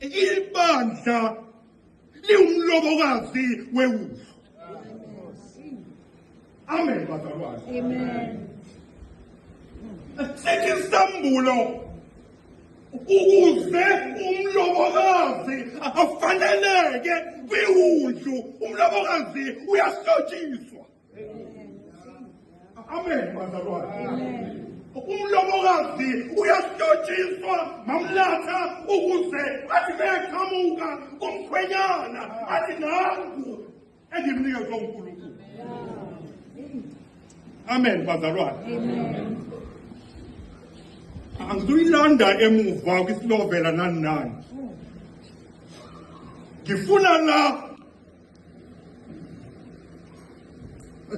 ibandla liwumlobokazi wewufu amen bazalwane amen sithi isambulo ukuze umlobokazi afaneleke kwiwundlu umlobokazi uyahlotshisa Amen bazalwane. Umlobokazi uyasitshotshiswa mamlatha ukuze athi beqhamuka komkhwenyana athi nangu engimnikezwe uNkulunkulu. Amen bazalwane. Amen. Angizuyilanda emuva kwisilovela nani nani. Ngifuna la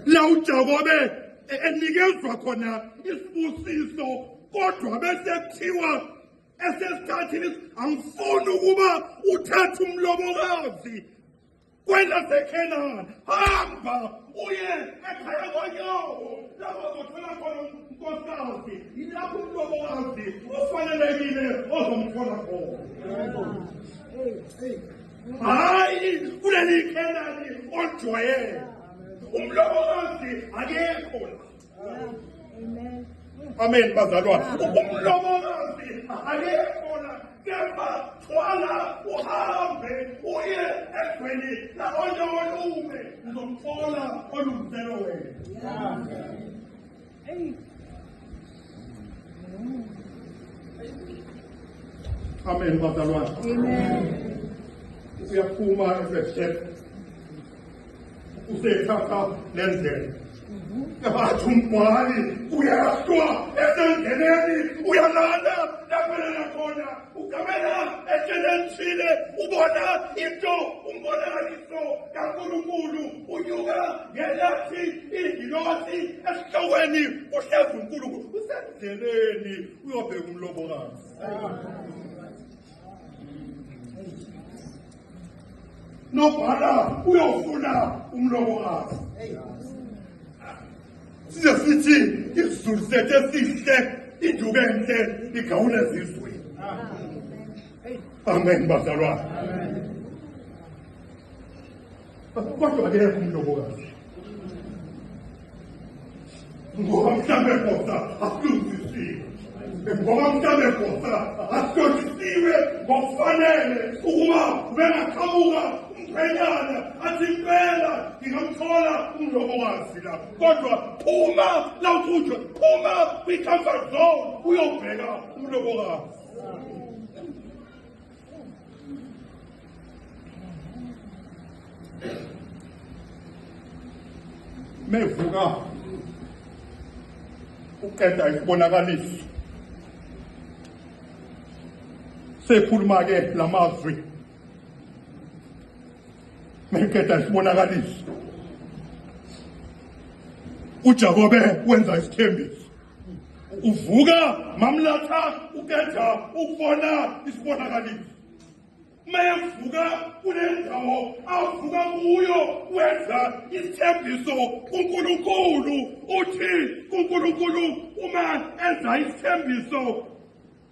la uJakobe e- enikezwa khona isibusiso kodwa bese kuthiwa esesithathile angifuni ukuba uthathe umlobokazi kwelasekhenana hamba uye ekhaya konyawo lapho zothola khona unkosikazi yilapho umlobokazi ofanelekile ozomthola khona hayi kuleli ikhelani olijwayele umlomo kazi akekho amen bazalwane umlomo kazi akekho la kepha thwala uhambe uye egweni laonye olume uzomthola olungiselo wena Amen, bazalwane. Amen. Uyaphuma esehlele. Usethatha lendlela. Yabathi umbhali uyahlwa esengeneni uyalanda laphelela khona. ugamela ehlelelithile ubona into umbonakaliso kaNkulunkulu unyuka ngelathi ingilosi esihlokweni uhlezi uNkulunkulu usendleleni uyobheka umlobokazi nobhala uyofuna umlomo wakho size sithi isizulu sethu esihle induku enhle igawula ezizweni amen bazalwane kodwa ke umlobokazi Ngoba mhlawumbe koda akulungisiwe. Ngoba mhlawumbe koda akulungisiwe ngokufanele ukuba bengaqhamuka umphanyana athi impela ngingamthola umlomo wazi la kodwa phuma la ukhunjwe phuma kwi-comfort zone uyobheka umlomo wazi mevuka uqeda isibonakaliso sekhuluma ke lamazwi meqeda isibonakaliso uJakobe wenza isithembiso uvuka mamlatha uketha ukubona isibonakaliso mayevuka kule ndawo avuka kuyo wenza isithembiso kunkulunkulu uthi kunkulunkulu uma enza isithembiso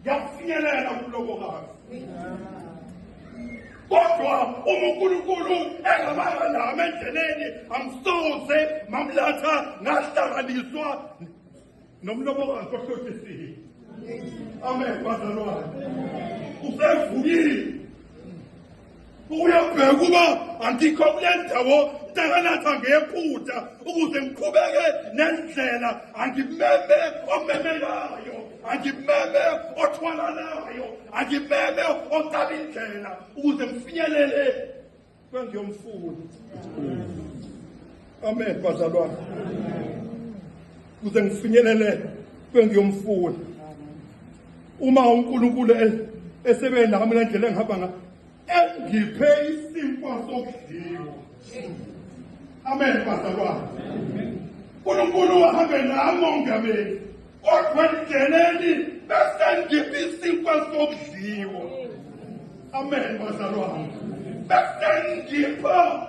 ngiyakufinyelela kumlobokazi kodwa uma unkulunkulu engabanga nami endleleni angisoze mamlatha ngahlanganiswa nomlobokazi ohlothisile amen bazalwane usevukile uyabheka uba angikho kule ndawo ntakanatha ngephutha ukuze ngiqhubeke nendlela angimeme omemelayo angimeme othwalalayo angimeme ocaba indlela ukuze ngifinyelele kwengiyomfuna amen bazalwane kuze ngifinyelele kwengiyomfuna uma uNkulunkulu esebe nami le ndlela engihamba nga engiphe isimpo sokudliwa amen bazalwane uNkulunkulu wahambe nami ongameli kodwa ndingeneni bese ngiphe isimpo sokudliwa amen bazalwane bese ngipha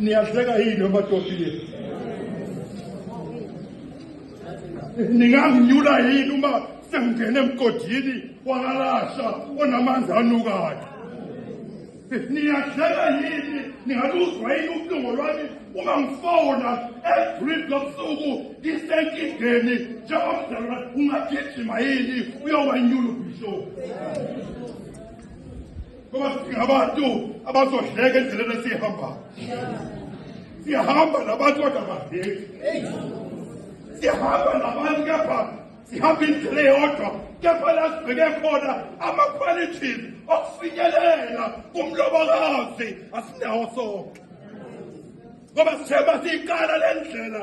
Niyadleka yini amadoda yenu? Ninganginyula yini uma sengingena emgodini wakalasha onamanzi anukayo? Niyadleka yini? Ningaluzwa yini ubuhlungu lwami uma ngifona every lobusuku ngisenkingeni njengomdala ungagijima yini uyowanyula ubhishopu? ngoba singabantu abazodleka endleleni esiyihambayo siyahamba nabantu kodwa badleki siyahamba nabantu kepha sihamba indlela eyodwa kepha la sibheke khona ama-qualities okufinyelela kumlobokazi asinawo sonke ngoba sithemba siyiqala le ndlela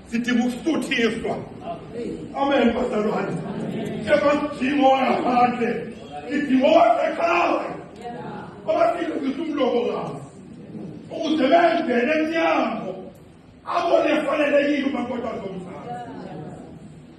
sidinga ukusuthiswa amen bazalwane njengasidingo ngaphandle sidingo wasekhaya abafike ukuthi umlobo kazi ukuze bengene emnyango abone efanelekile umakoti azomzala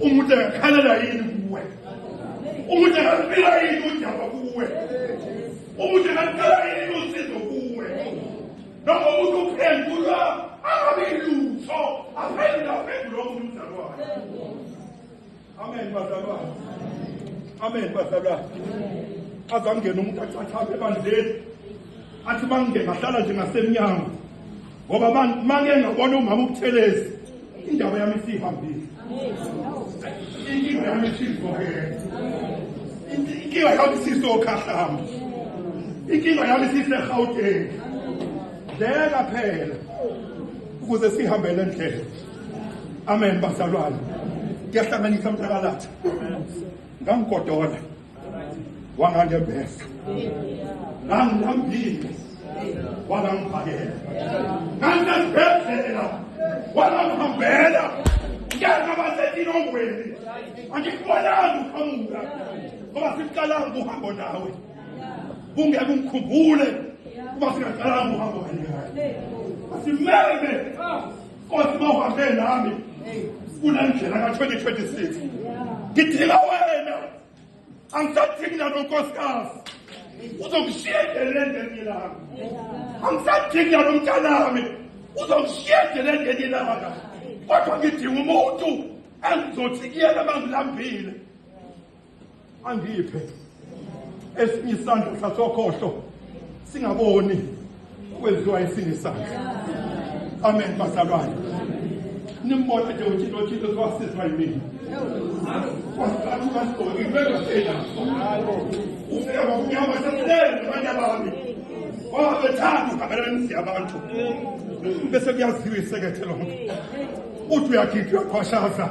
umuntu angakhalela yini kuwe umuntu angakubila yini udaba kuwe umuntu angakukala yini usizo kuwe noma umuntu uphendulwa angabi lutho aphendula uphendula omuntu mzalwane amen bazalwane amen bazalwane azangena umuntu achathabe ebandleni athi mangide ngahlala nje ngasemnyango ngoba mangike ngabona umama ubuthelezi indaba yami isihambile inkinga yami isivokele inkinga yami isisokhahlamba inkinga yami isisegauteng dleka phela ukuze sihambele ndlela amen bazalwane kuyahlanganisa mntakalatha ngangigodola wangangebhesa nangilambile walangiphakela nganginazibhedlela walangihambela ngena basetilongweni angikubonanga uqhamuka ngoba siqalanga uhambo nawe kungeke ungikhumbule kuba singaqalanga uhambo kanye kaye asimeme Nkosi mawuhambe nami kule ndlela ka-2026 ngidinga wena angisadingi nanonkosikazi uzongishiya endeleni ngelinye ilanga angisadingi nalo mntanami uzongishiya endeleni ngelinye ilanga kodwa ngidinga umuntu engizothi kuyena uma ngilambile angiphe esinye isandla sasokhohlo singaboni kwenziwa esinye isandla amen bazalwane nimbona nje uthixo uthixo siwasizwa yimina wasiqathukasibhoki bengafela ufika ngokunyama sasibele nabanye abami wabethanda uhabelanisi abantu bese kuyaziwa isekethe lonke uthi uyakhipha uyakhwashaza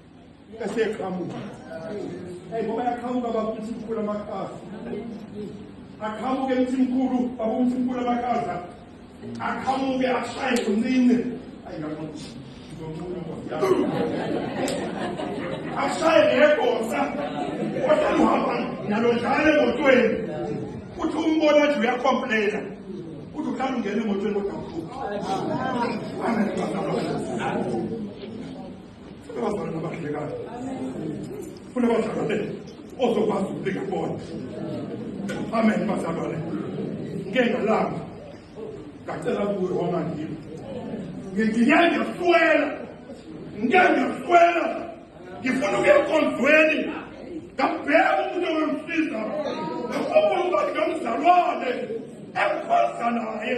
eseqhamuka hey ngoba yaqhamuka bakuthi mkhulu amakazi aqhamuke mthi mkhulu bakuthi mkhulu amakazi aqhamuke ashaye kunini ayi ngakuthi ashaye ngegosa kodwa uhamba nalo njalo emotweni uthi umbona nje uyakhomplena uthi uhlala ungena emotweni kodwa ukhupha Kunabazalwane nabahlekayo. Kunabazalwane ozokwazi ukubika kubona. Amen bazalwane. Ngike ngalamba. Ngacela kuwe wama ngimi. Ngingike ngiyahlwela. Ngike ngiyahlwela. Ngifuna ukuya enkonzweni. Ngabheka umuntu owemsiza. Ngakubona ukuthi ngamzalwane. Ekhonza naye.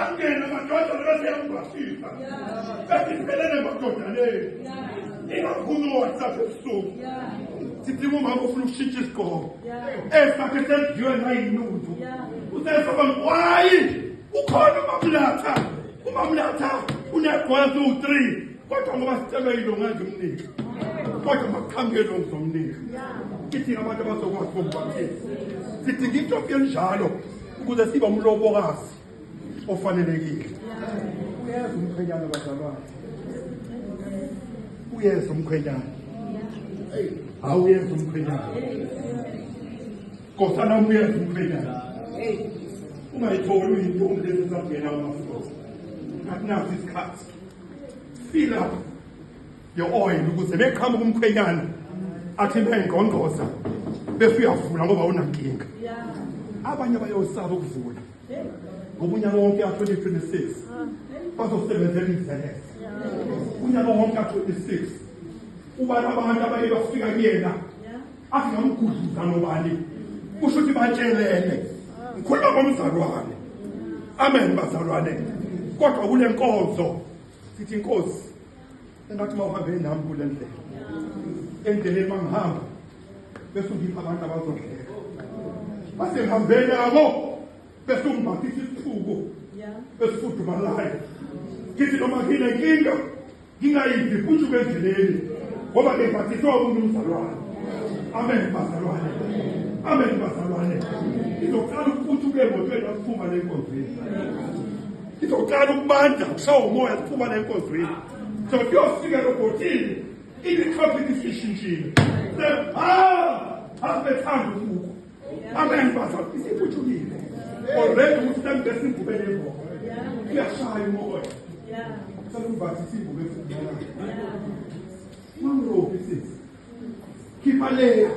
angena amadoda nabaseyamubhasisa besiphelele madoda le ingakhuni uwhatsapp ebusuku sidinga umama ofuna ukushintsha isigqoko esakhe senziwe nayinundu usesaba ngwayi ukhona umamlatha umamlatha unegweza uwu-three kodwa ngoba sicela yilo ngazi umnika kodwa makuqhamukele ongizomnika sidinga abantu abazokwazi bombatisa sidinga into yokuyenjalo ukuze sibe umlobokazi ofanelekile uyeza umkhwenyana bazalwane uyeza umkhwenyana hawu uyeza umkhwenyana kosana umuyeza umkhwenyana ungayitholi uyintombi lezi ezakungena amafulosi akunaso isikhathi feel up yo-oyili ukuze meqhamuka umkhwenyana athi bengqongqoza bese uyavula ngoba unankinga abanye bayosaba ukuvula ngobunyaka wonke ka-2026 bazosebenzela izelele unyaka wonke ka-26 ubani abantu abaye bafika kuyena athi ngamgudluza nobani kusho ukuthi batshelene ngikhuluma ngomzalwane amen bazalwane kodwa kule nkonzo sithi inkosi engathi uma uhambe nami kule ndlela endleleni uma ngihamba bese ungipha abantu abazodleka base ngihambe nabo bese ungibhathisa isithuko esifudumalayo ngithi noma nginenkinga ngingayiphi futhi ubendleleni ngoba ngibhathiswe umuntu umzalwane amen bazalwane amen bazalwane izoqala ukuthi ube emotweni akuphuma lenkonzweni Izoqala ukubanda kushawa umoya siphuma le nkonzweni. So kuyofika robotini imikhosi isishintshile. Ah! Asibethanda ukubuka. Amen baza isiphutshukile. Already umhlambi besibhubele ngoba. Kuyashaya umoya. Yeah. Sekuvathi sibhubele ngoba. Mangro bisis. Khipha le.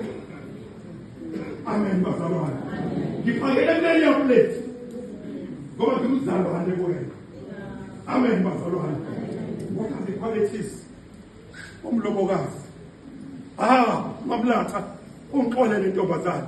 Amen bazalwane. Ngiphakele mleni ya plate. Ngoba ngimzalwane kuwena. Amen bazalwane. What are the qualities? Umlobokazi. Ah, mamlatha ungixolele intombazane.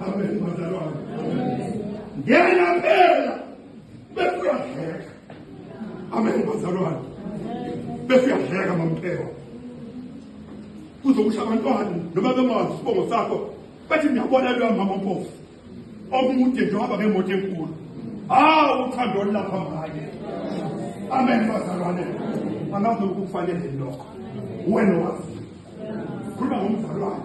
Amen bazalwane. Ngena phela bekuyadleka. Amen bazalwane. Bekuyadleka mamphela. Kuzokusha abantwana noma bengazi isibongo sakho bathi ngiyabona lo mama mpofu. Omude nje waba ngemoto enkulu. Hawu uthando lapha manje. Amen bazalwane. Angazi ukufanele lokho. Wena wazi. Khuluma ngomzalwane.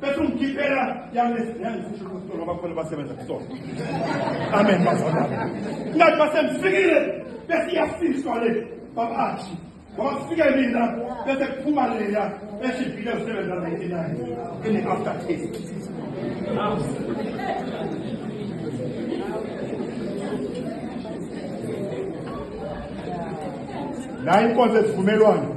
bese ungikhiphela yangifushela kusitolo abakhona basebenza kusona amen bazalwane ngathi basengifikile bese iyasiswa le babashi wafika mina bese kuphuma leya eshibhile usebenza 99 in after taste la inkonzo esivumelwano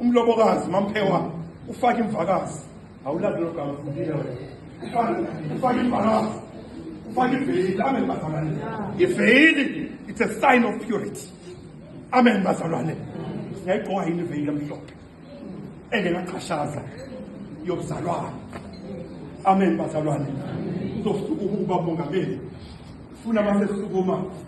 umlobokazi umamphewane ufake imvakazi awulali lo gama ufundile wena Ufake- ufake imvakazi ufake iveyili amen bazalwane iveyili it's a sign of purity amen bazalwane singayigqoka yini iveyili emhlophe engekaqhashaza yokuzalwana amen bazalwane uzosuka ukuba mongameli funa masesukuma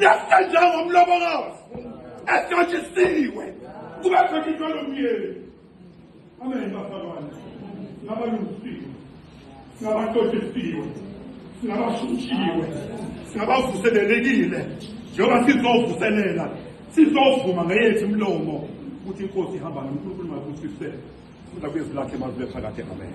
Nasta njengomlobokazi ehlotshisiwe kuba khona into lomyeni. Amen bafakwana. Ngabalungisiwe. Ngabahlotshisiwe. Ngabashushiwe. Ngabavuselelekile. Njengoba sizovuselela sizovuma ngeyethu imlomo ukuthi inkosi ihamba noNkulunkulu makuthisise futhi akwezi lakhe mazibe phakade amen